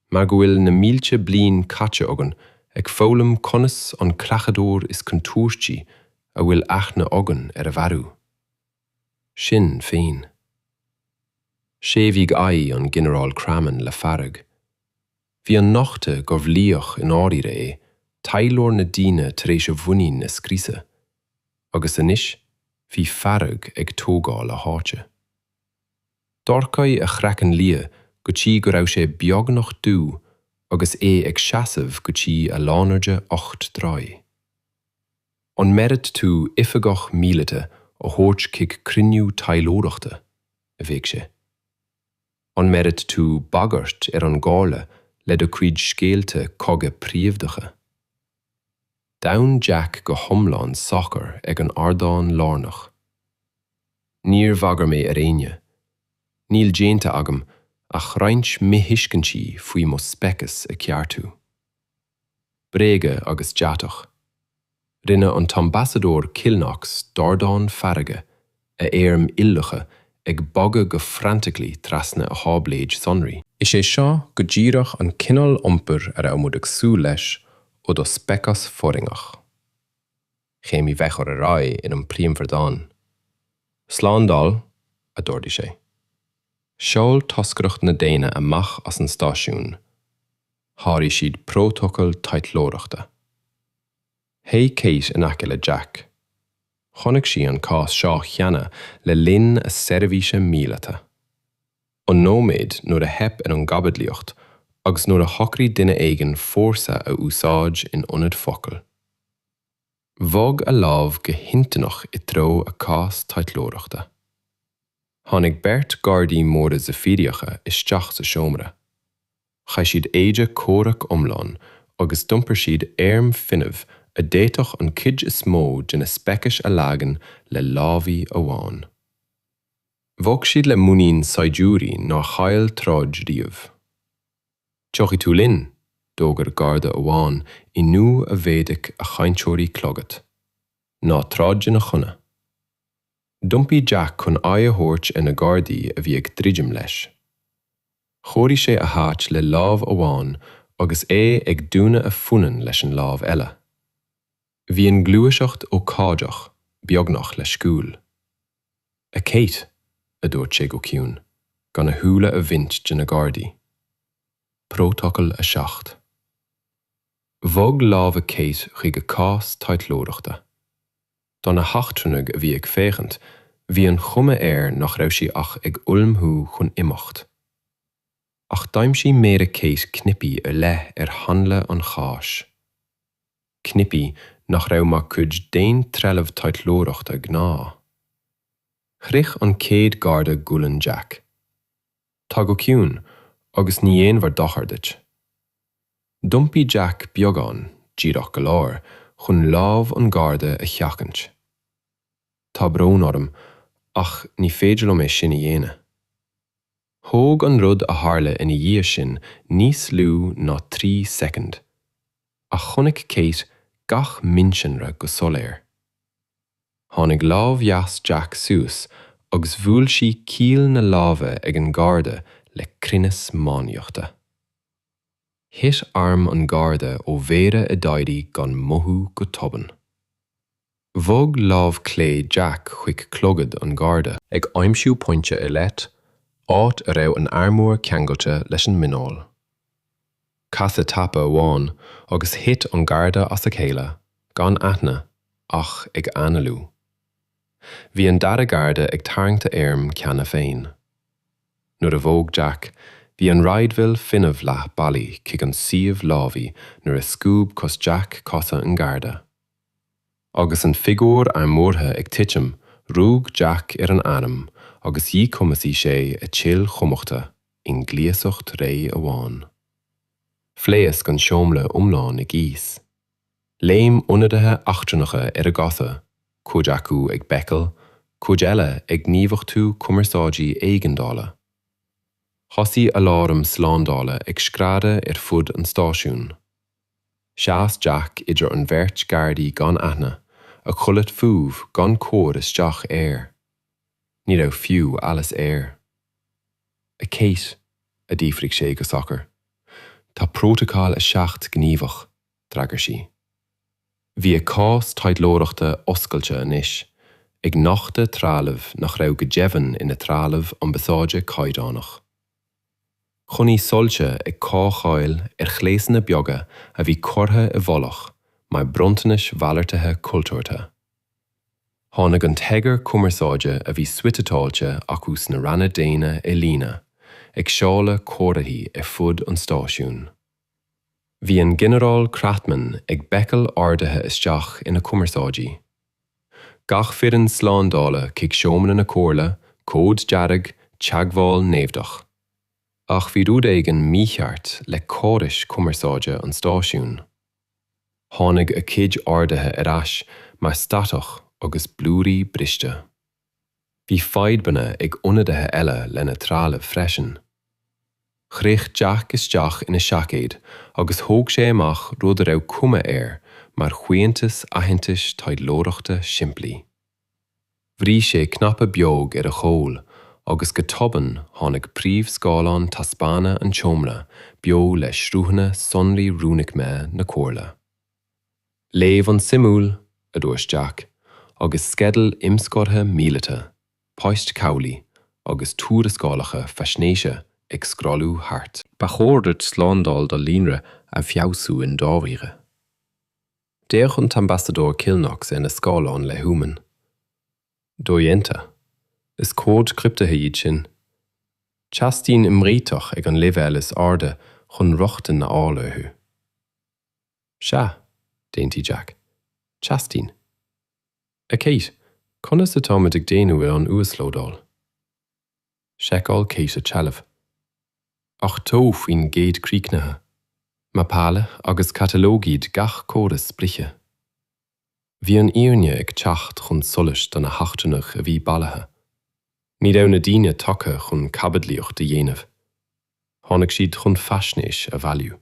mar go bhfuil na mílte bliain caite againn ag foghlaim conas an creachadóir is contúirtí a bhfuil aithne againn air a mharú. Sinn féin. Séimhígh aghaidh an Ghinearáil Cramann le fearg. Bhí an nochtadh gurbh laoch i ndáiríre é taidhleoir na daoine tar éis a mhuinín a scriosadh, agus anois bhí fearg ag tógáil a háite. Dhorchaigh a chraiceann liath go dtí go raibh sé beagnach dubh agus é ag seasamh go dtí a lánairde ocht dtroigh. An mbeireadh tú oifigeach míleata a thabhairt chuig cruinniú taidhleoireachta? a bhéic sé. An mbeireadh tú bagairt ar an gComhairle le do chuid scéalta cogaidh príomhdacha? D'fhan Jack go hiomlán socair ag an ardán lárnach. Níor bhagair mé ar éinne. Níl déanta agam ach roinnt mithuiscintí faoi mo speiceas a cheartú. bréaga agus deatach. Rinne an tAmbasadóir Kilknox dordán feirge, a airm iolracha ag bogadh go frantically trasna a tháibléid sonraí. Is é seo go díreach an cineál iompair a raibh muid ag súil leis ó do speiceas foréigneach. Chéimnigh bheith chur ar aghaidh in an bpríomhardán, Slándáil, a d'ordaigh sé. Seol toscaireacht na daoine amach as an stáisiún, sháraigh siad prótacal taidhleoireachta. Théigh Kate in aice le Jack. Chonaic sí an cás seo cheana le linn a seirbhíse míleata. An nóiméad nuair a theip ar an gcaibidlíocht agus nuair a shocraigh duine éigin fórsa a úsáid in ionad focal. Bhog a lámh go hintinneach i dtreo a cás taidhleoireachta. Tháinig beirt gardaí móra Zaifíríocha isteach sa seomra. Chaith siad éide comhraic iomlán agus d'iompair siad airm fuinnimh a d'fhéadfadh an chuid is mó de na speicis a leagan le lámhaí amháin. Bhog siad le muinín saighdiúirí nár chaill troid riamh. Tiocfaidh tú linn? D'fhógair Garda amháin i nguth a mhéadaigh a chainteoirí clogad. Ná troid ina choinne. D'iompaigh Jack chun aghaidh a thabhairt ar na Gardaí a bhí ag druidim leis. Chóirigh sé a háit le lámh amháin agus é ag dúnadh a phunainn leis an lámh eile. Bhí an gluaiseacht ócáideach, beagnach leisciúil. 'A Kate, a dúirt sé go ciúin, gan a shúile a bhaint de na gardaí. Prótacal 7. Bhog lámha Kate chuig a cás taidhleoireachta. Do na heachtrannaigh a bhí ag féachaint, bhí an chuma air nach raibh sí ach ag ullmhú chun imeacht. Ach d'aimsigh méara Kate cnaipí ar leith ar hanla an cháis. cnaipí nach raibh mar chuid d'aon trealamh taidhleoireachta gnáth. Shroich an chéad garda gualainn Jack. Tar go ciúin, agus ní dhéanfar dochar duit. D'iompaigh Jack beagán, díreach go leor, chun lámh an gharda a sheachaint. Tá brón orm, ach ní féidir liom é sin a dhéanamh. Thóg an rud a tharla ina dhiaidh sin níos lú ná trí soicind, ach chonaic Kate gach mionsonra go soiléir. Tháinig lámh dheas Jack suas agus bhuail sí caol na láimhe ag an Garda le cruinneas máinliachta. Thit arm an Garda ó mhéara a d'éirigh gan mothú go tobann. Bhog lámh clé Jack chuig clogad an Gharda. ag aimsiú pointe ar leith, áit a raibh an t-armúr ceangailte leis an muineál. Casadh tapa amháin agus thit an Garda as a chéile, gan aithne, ach ag análú. Bhí an dara Garda ag tarraingt a airm cheana féin. Nuair a bhog Jack, bhí an raidhfil fuinneamh leath bealaigh chuig an suíomh lámhaigh nuair a scuab cos Jack cosa an Gharda. Agus an figiúr armúrtha ag titim, rug Jack ar an arm agus dhíchumasaigh sé a chill chumachta i ngluaiseacht réidh amháin. Phléasc an seomra iomlán i gcíos. Léim ionadaithe eachtrannacha ar a gcosa, cuid acu ag béiceadh, cuid eile ag gníomhachtú cumarsáidí éigeandála. Thosaigh aláram slándála ag screadadh ar fud an stáisiúin. Sheas Jack idir an bheirt Gardaí gan aithne, a chulaith fós gan cur isteach air. Ní raibh fiú allas air. A Kate, a d'fhiafraigh sé go socair, tá Prótacal a Seacht gníomhach, d'fhreagair sí. Bhí a cás taidhleoireachta oscailte anois, ag nochtadh trealaimh nach raibh go deimhin ina trealamh ambasáide caighdeánach. Chonaic soilse ag caochaíl ar ghléasanna beaga a bhí curtha i bhfolach mar bronntanais mhalartaithe cultúrtha. Tháinig an t-eagar cumarsáide a bhí suiteáilte acu sna ranna daonna i líne, ag seoladh comharthaí ar fud an stáisiúin. Bhí an Ginearál Crathmann ag béicíl orduithe isteach ina chumarsáidí. Gach foireann slándála chuig seomra na comhairle, cód dearg, teagmháil naimhdeach. Ach bhí rud éigin mícheart le córais cumarsáide an stáisiúin. Tháinig a chuid orduithe ar ais mar statach agus blúirí briste. Bhí fadhbanna ag ionadaithe eile lena dtrealamh freisin. Shroich Jack isteach ina sheaicéad agus thóg sé amach rud a raibh cuma air mar shuaitheantas aitheantais taidhleoireachta simplí. Bhrúigh sé cnaipe beag ar a chúl agus go tobann tháinig príomhscáileán taispeána an tseomra beo le sruthanna sonraí rúnaicmithe na Comhairle. Léamh an-suimiúil, a dúirt Jack, agus sceideal imscartha míleata, poist cabhlaigh agus tuarascálacha faisnéise ag scrollú thart. Ba chóir duit slándáil do líonra a fheabhsú i ndáiríre. D'fhéach an tAmbasadóir Kilknox ar na scáileáin le huamhan. Dodhéanta. Is comhaid criptithe iad sin. Teastaíonn imréiteach ag an léibheal is airde chun rochtain a fháil orthu. Sea, d'aontaigh Jack. Teastaíonn. A Kate, conas atáimid ag déanamh ar an uaslódáil? Sheiceáil Kate a trealamh. 80 faoin gcéad críochnaithe. Mapáladh agus catalógaíodh gach córas sprice. Bhí an fhírinne ag teacht chun solais do na heachtrannaigh a bhí bailithe. Ní raibh na daoine tagtha chun caibidlíocht a dhéanamh. Tháinig siad chun faisnéis a bhailiú.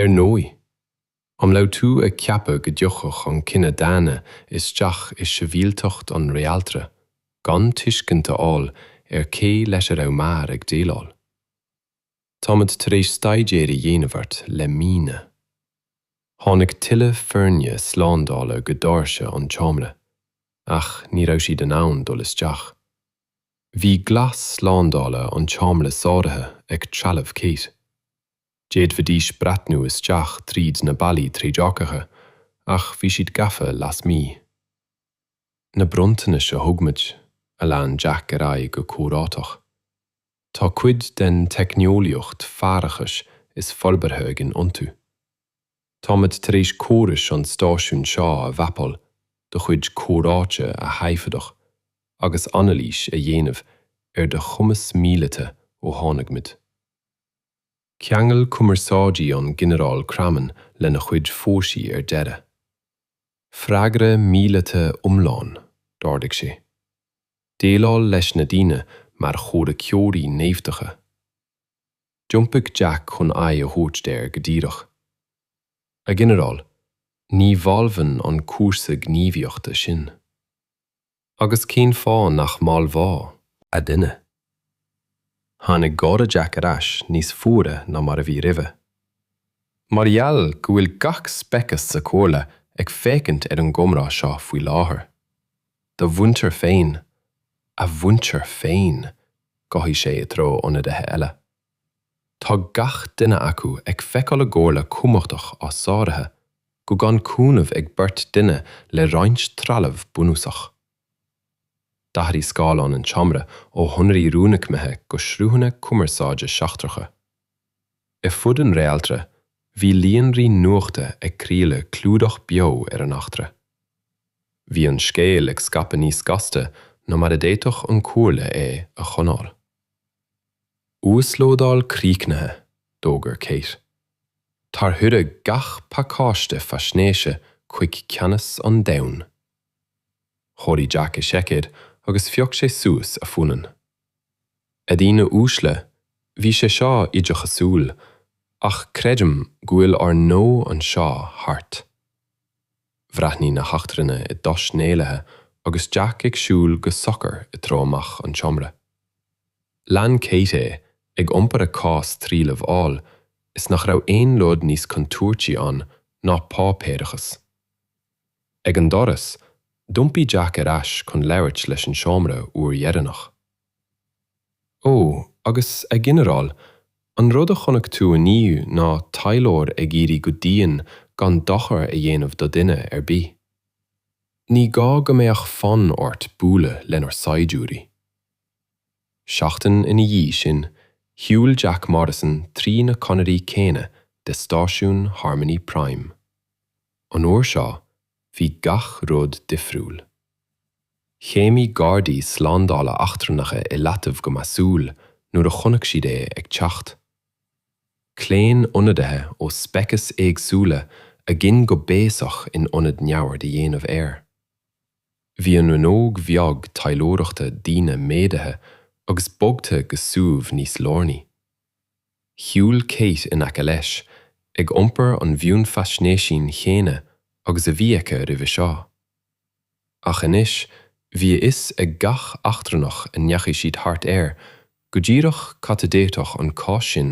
Ar ndóigh, an raibh tú ag ceapadh go dtiocfadh an cine daonna isteach i sibhialtacht an réaltra gan tuiscint a fháil ar cé leis a raibh muid ag déileáil? Táimid tar éis staidéar a dhéanamh ort le míonna. Tháinig tuilleadh foirne slándála go doirse an tseomra, ach ní raibh siad in ann dul isteach. Bhí glas slándála an tseomra sáraithe ag trealamh Kate. D'fhéadfaidís breathnú isteach trí na ballaí trédhearcacha ach bhí siad gafa lasmuigh. Na bronntanais a thug muid, a lean Jack ar aghaidh go comhráiteach. Tá cuid den teicneolaíocht faireachais is forbartha againn iontu. Táimid tar éis córais an stáisiúin seo a mhapáil, do chuid comhráite a thaifeadadh agus anailís a dhéanamh ar do chumas míleata ó tháinig muid. Cheangail cumarsáidí an Ginearál Craman lena chuid fórsaí ar deireadh. Freagra míleata iomlán, d'ordaigh sé. Déileáil leis na daoine mar chomhraiceoirí naimhdeacha. D'iompaigh Jack chun aghaidh a thabhairt air go díreach. A Ghinearáil, ní mholfainn an cúrsa gníomhaíochta sin. Agus cén fáth nach molfá, a dhuine? Tháinig gáire Jack ar ais, níos fuaire ná mar a bhí roimhe. Mar gheall go bhfuil gach speiceas sa Chomhairle ag féachaint ar an gcomhrá seo faoi láthair. Do mhuintir féin, a mhuintir féin, ghothaigh sé i dtreo ionadaithe eile. Tá gach duine acu ag feiceáil a gcomhairle cumhachtach á sáraithe, go gan cúnamh ag beirt duine le roinnt trealamh bunúsach. D'athraigh scáileán an tseomra ó shonraí rúnaicmithe go sruthanna cumarsáide seachtracha. Ar fud an réaltra, bhí líonraí nuachta ag craoladh clúdach beo ar an eachtra. Bhí an scéal ag scaipeadh níos gasta ná mar a d'fhéadfadh an Chomhairle é a choinneáil. Uaslódáil críochnaithe, D'fhógair Kate tarchuireadh gach pacáiste faisnéise chuig Ceannas an Domhain. Chóirigh Jack a sheaicéad agus phioc sé suas a phunann. A dhaoine uaisle, bhí sé seo oideachasúil, ach creidim go bhfuil ár ngnó anseo thart. Bhreathnaigh na heachtrannaigh i dtost néalaithe agus Jack ag siúl go socair i dtreo amach an tseomra. Lean Kate é, ag iompar a cás trealaimh amhail is nach raibh aon rud níos contúirtí ann ná páipéarachas. Ag an doras, d'iompaigh Jack ar ais chun labhairt leis an seomra uair dheireanach. Ó, agus, a Ghinearáil, an rud a chonaic tú inniu ná taidhleoir ag iarraidh go dian gan dochar a dhéanamh do dhuine ar bith. Ní gá go mbeadh fonn ort bualadh lenár saighdiúirí. Seachtain ina dhiaidh sin, shiúil Jack Morrison trí na conairí céanna de stáisiún Harmony Prime. An uair seo, bhí gach rud difriúil. Chéimnigh gardaí slándála eachtrannacha i leataobh go measúil nuair a chonaic siad é ag teacht. Chlaon ionadaithe ó speiceas éagsúla a gcinn go béasach in ionad neamhaird a dhéanamh air. Bhí an rannóg bheag taidhleoireachta daoine méadaithe agus bogtha go suíomh níos lárnaí. Shiúil Kate in aice leis, ag iompar an mhionfhaisnéisín chéanna agus a bhí aici roimhe seo. Ach anois bhí a fhios ag gach eachtrannach a ndeachaigh siad thart air go díreach cad a d'fhéadfadh an cás sin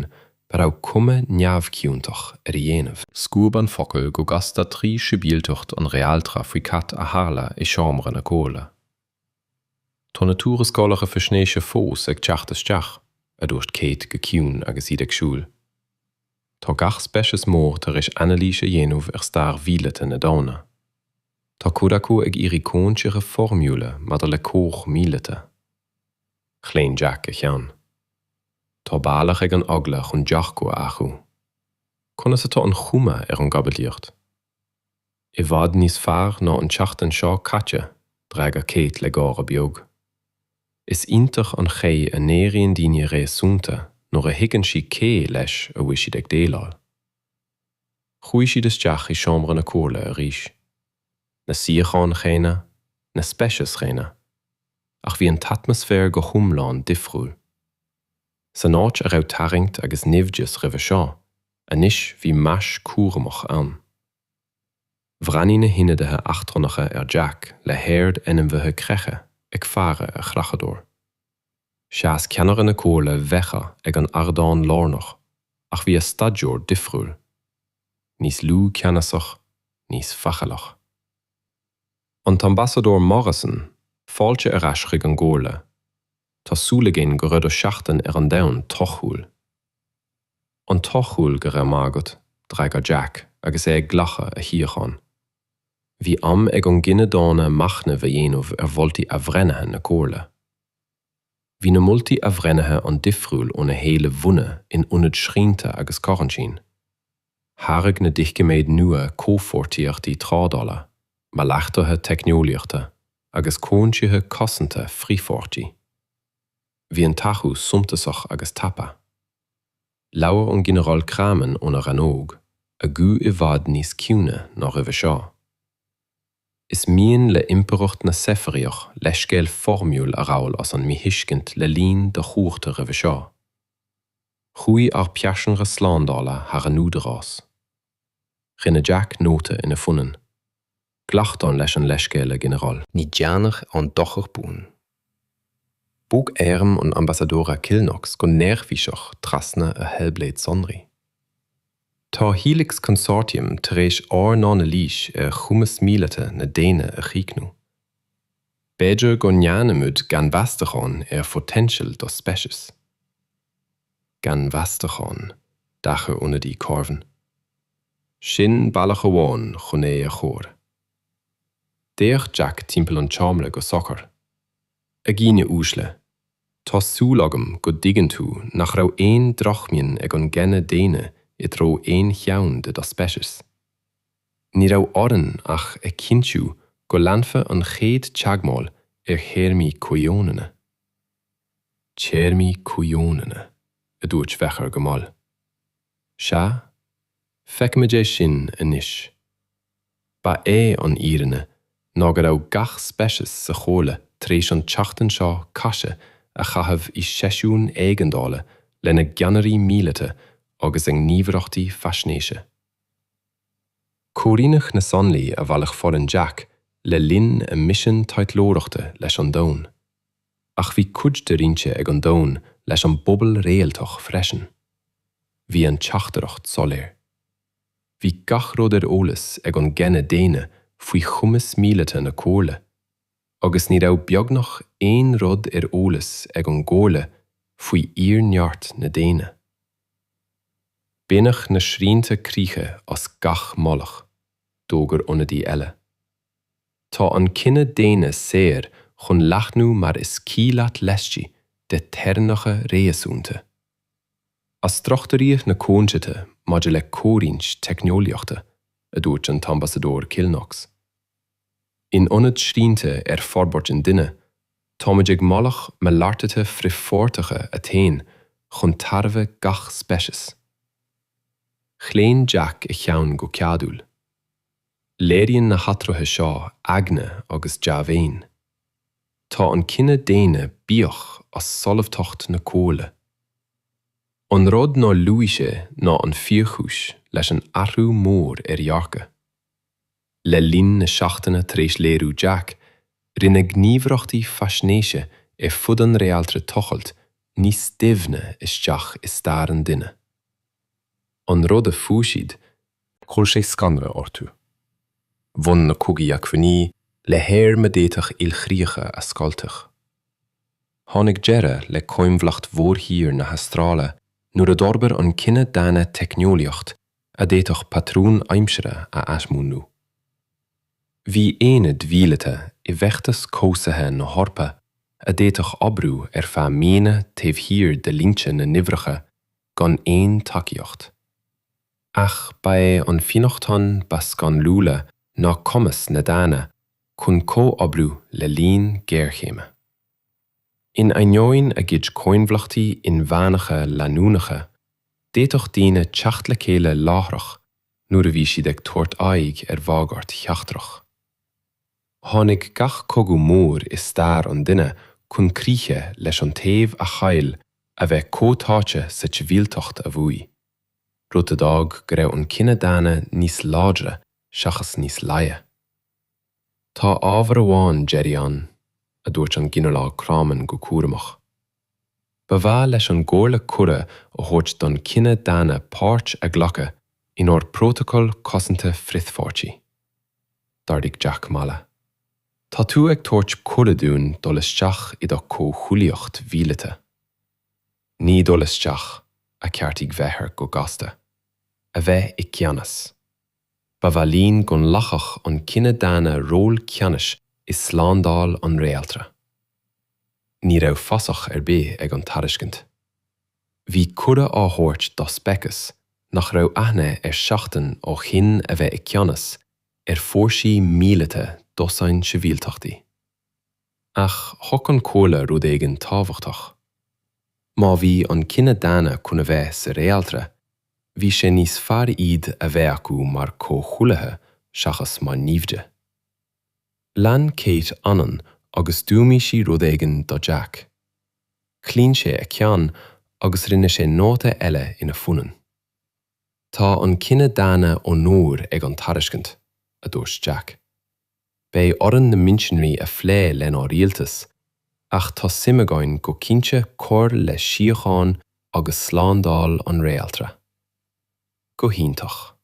a raibh cuma neamhchiontach air a dhéanamh. Scuab an focal go gasta trí shibilteacht an réaltra faoi cad a tharla i seomra na comhairle. 'Tá na tuarascálacha faisnéise fós ag teacht isteach, a dúirt Kate go ciúin agus iad ag siúl. 'Tá gach speiceas mór tar éis anailís a dhéanamh ar stair mhíleata na daonna. Tá cuid acu ag iarraidh comhaontuithe foirmiúla maidir le comhar míleata. Chlaon Jack a cheann. Tá bealach ag an eagla chun dearcadh a athrú. Conas atá an chuma ar an gcaibidlíocht? I bhfad níos fearr ná an tseachtain seo caite, d'fhreagair Kate le gáire beag. Is iontach an chaoi a n-éiríonn daoine réasúnta nuair a thuigeann siad cé leis a bhfuil siad ag déileáil. Chuaigh siad isteach i seomra na comhairle arís. Na suíocháin chéanna, na speicis chéanna. Ach bhí an t-atmaisféar go hiomlán difriúil. San áit a raibh tarraingt agus naimhdeas roimhe seo, anois bhí meas cúramach ann. Bhreathnaigh na hionadaithe eachtrannacha ar Jack le haird ainmhithe creiche ag faire ar chreachadóir. Sheas ceannaire na comhairle bheacha ag an ardán lárnach ach bhí a staidiúir difriúil, níos lú ceannasach, níos faichilleach. An tAmbasadóir Morrison, fáilte ar ais chuig an gComhairle. Tá súil againn go raibh do sheachtain ar an domhan torthúil. An-torthúil go raibh maith agat d'fhreagair Jack agus é ag glacadh a shuíochán. Bhí am ag an gcine daonna machnamh a dhéanamh ar mholtaí athbhreithnithe na Comhairle. Bhí na moltaí athbhreithnithe an-difriúil ó na héilimh bhunaidh in ionad srianta agus coraintín. Thairg na doiciméid nua comhpháirtíochtaí trádála, malartuithe teicneolaíochta agus comhaontuithe cosanta frithpháirteacha. Bhí an t-athrú suntasach agus tapa. Labhair an Ginearál Craiman óna rannóg, a guth i bhfad níos ciúine ná roimhe seo. Is mian le Impireacht na Seifiríoch leithscéal foirmiúil a ghabhail as an míthuiscint le linn do chuarta roimhe seo. Chuaigh ár bpearsanra slándála thar an údarás. Rinne Jack nóta ina phunann. Glactar leis an leithscéal, a Ghinearáil. Ní dearnadh aon dochar buan. Bhog airm an Ambasadóra Kilknox go neirbhíseach trasna a tháibléad sonraí. Tá Helix Consortium tar éis ár n-anailís ar chumas míleata na daonna a chríochnú. B'fhéidir go ndéanfaimid gannmheastachán ar phoitéinseal do speicis. Gannmheastachán, d'aithris ionadaí Corvin. Sin bealach amháin chun é a chur. D'fhéach Jack timpeall an tseomra go socair. A dhaoine uaisle, tá súil agam go dtuigeann tú nach raibh aon drochmhian ag an gcine daonna i dtreo aon cheann de do speicis. Ní raibh orainn ach a chinntiú go leanfadh an chéad teagmháil ar théarmaí comhionanna. Téarmaí comhionanna, a dúirt Vecher go mall. Sea, feicimid é sin anois. Ba é an fhírinne ná go raibh gach speiceas sa Chomhairle tar éis an tseachtain seo caite a chaitheamh i seisiún éigeandála lena gceannairí míleata agus a ngníomhaireachtaí faisnéise. Ag comhoiriúnú na sonraí a bhailigh foireann Jack le linn a misean taidhleoireachta leis an domhan. Ach bhí cuid de roinnte ag an domhan leis an bpobal réaltach freisin. Bhí an teachtaireacht soiléir. Bhí gach rud ar eolas ag an gcine daonna faoi chumas míleata na Comhairle. Agus ní raibh beagnach aon rud ar eolas ag an gComhairle faoi fhíorneart na ndaoine. Baineadh na srianta críche as gach moladh, d'fhógair ionadaí eile. Tá an cine daonna saor chun leathnú mar is cuí leat laistigh de theorainneacha réasúnta. Athstruchtúraíodh na coinníollacha maidir le comhroinnt teicneolaíochta, a dúirt an tAmbasadóir Kilknox. In ionad srianta ar forbairt an duine, táimid ag moladh malartuithe frithpháirteacha a théann chun tairbhe gach speiceas. Chlaon Jack a cheann go ceadúil. Léiríonn na hathruithe seo eagna agus dea-mhéin. Tá an cine daonna buíoch as solúbthacht na comhairle. An rud nár luaigh sé ná an fíorchúis leis an athrú mór ar dhearcadh. Le linn na seachtaine tar éis léiriú Jack, rinne gníomhaireachtaí faisnéise ar fud an réaltra tochailt níos doimhne isteach i stair an duine. An rud a fuair siad, chuir sé scanradh orthu. Bhain na cogaí acmhainní le hairm a d'fhéadfadh ilchríocha a scoilteadh. Tháinig deireadh le coinbhleacht mhórthír na hAstráile nuair a d'fhorbair an cine daonna teicneolaíocht a d'fhéadfadh patrúin aimsire a athmúnlú. Bhí aonaid mhíleata i bhfeachtas cobhsaithe na hEorpa a d'fhéadfadh oibriú ar feadh míonna taobh thiar de línte na naimhde gan aon tacaíocht. Ach ba é an fionnachtain ba scanrúla ná cumas na ndaoine chun comhoibriú le linn géarchéime. In ainneoin a gcuid coinbhleachtaí inmheánacha leanúnacha, d'fhéadfadh daoine teacht le chéile láithreach nuair a bhí siad ag tabhairt aghaidh ar bhagairt sheachtrach. Tháinig gach cogadh mór i stair an duine chun críche leis an taobh a chaill a bheith comhtháite sa tsibhialtacht a bhuaigh, rud a d'fhág go raibh an cine daonna níos láidre seachas níos laige. Tá ábhar amháin deiridh ann, a dúirt an Ginearál Crommen go cúramach. Ba mhaith leis an gComhairle cuireadh a thabhairt don chine daonna páirt a ghlacadh inár bPrótacal Cosanta Frithpháirtí. D'ardaigh Jack mala. Tá tú ag tabhairt cuireadh dúinn dul isteach i do chomhghuaillíocht mhíleata. Ní dul isteach, a cheartaigh Vethar go gasta. A bheith i gceannas. Ba mhaith linn go nglacfadh an cine daonna ról ceannais i slándáil an réaltra. Ní raibh fasach ar bith ag an tairiscint. Bhí cuireadh á thabhairt do speiceas nach raibh aithne air seachtain ó shin a bheith i gceannas ar fhórsaí míleata dosaen sibhialtachtaí. Ach thuig an chomhairle rud éigin tábhachtach. Má bhí an cine daonna chun a bheith sa réaltra, Bhí sé níos fearr iad a bheith acu mar comhghuaillithe seachas mar naimhde. Chlaon Kate anonn agus dúirt sí rud éigin do Jack. Chlaon sé a cheann agus rinne sé nóta eile ina phunann. Tá an cine daonna faoi onóir ag an tairiscint, a dúirt Jack. Beidh orainn na mionsonraí a phlé lenár rialtas, ach tá suim againn go cinnte cur le síocháin agus slándáil an réaltra. Go hiontach.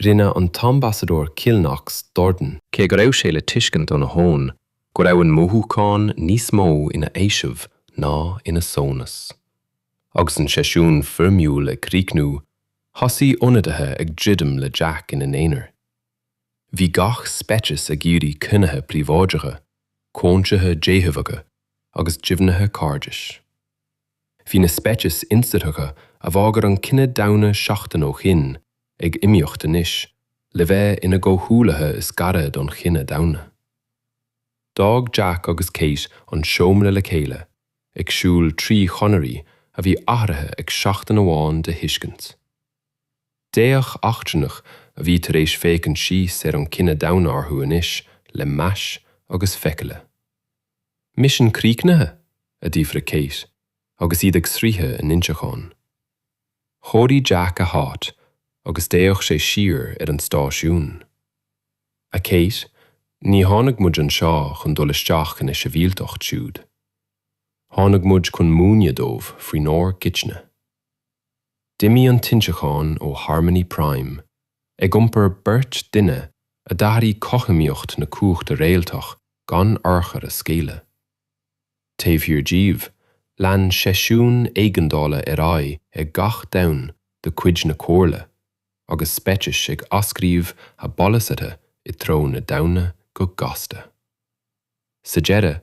Rinne an tAmbasadóir Cill Knox dordán. Cé go raibh sé le tuiscint óna thon go raibh an mothúchán níos mó ina fhaoiseamh ná ina shonas, agus an seisiún foirmiúil ag críochnú, thosaigh ionadaithe ag druidim le Jack ina n-aonar. Bhí gach speiceas ag iarraidh cruinnithe príobháideacha, comhaontuithe déthaobhacha agus deimhnithe cairdis. Bhí na speicis ionsaitheacha a bhagair an cine daonna seachtain ó shin ag iomaíocht anois le bheith ina gcomhghuaillithe is gaire don chine daonna. D'fhág Jack agus Kate an seomra le chéile, ag siúl trí chonairí a bhí athraithe ag seachtain amháin de thuiscint. D'fhéach eachtrannach a bhí tar éis féachaint síos ar an chine daonna orthu anois le meas agus faichille. 'Misean críochnaithe? a d'fhiafraigh Kate agus iad ag sroicheadh a n-inseacháin. Chóirigh Jack a háit agus d'fhéach sé siar ar an stáisiún. 'A Kate, ní tháinig muid anseo chun dul isteach ina sibhialtacht siúd. Tháinig muid chun múineadh dóibh faoinár gcuidne. D'imigh an t-inseachán ó Harmony Prime, ag iompar beirt duine a d'athraigh cothromaíocht na cumhachta réaltach gan urchar a scaoileadh. Taobh thiar díobh, lean seisiún éigeandála ar aghaidh ag gach Domhan de cuid na Comhairle, agus speicis ag athscríobh a bpolasaithe i dtreo na daonna go gasta. Sa deireadh,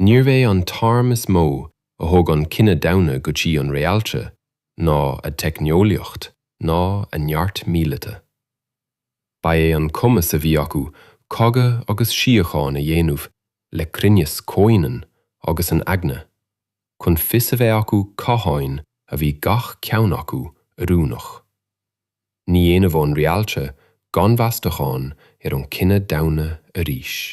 níorbh é an t-arm is mó a thug an cine daonna go dtí an réaltra ná a dteicneolaíocht ná a neart míleata. Ba é an cumas a bhí acu cogadh agus síocháin a dhéanamh le cruinneas comhionann agus an eagna, chun fios a bheith acu cathain a bhí gach ceann acu oiriúnach. Ní dhéanfadh an réaltra gannmheastachán ar an cine daonna arís.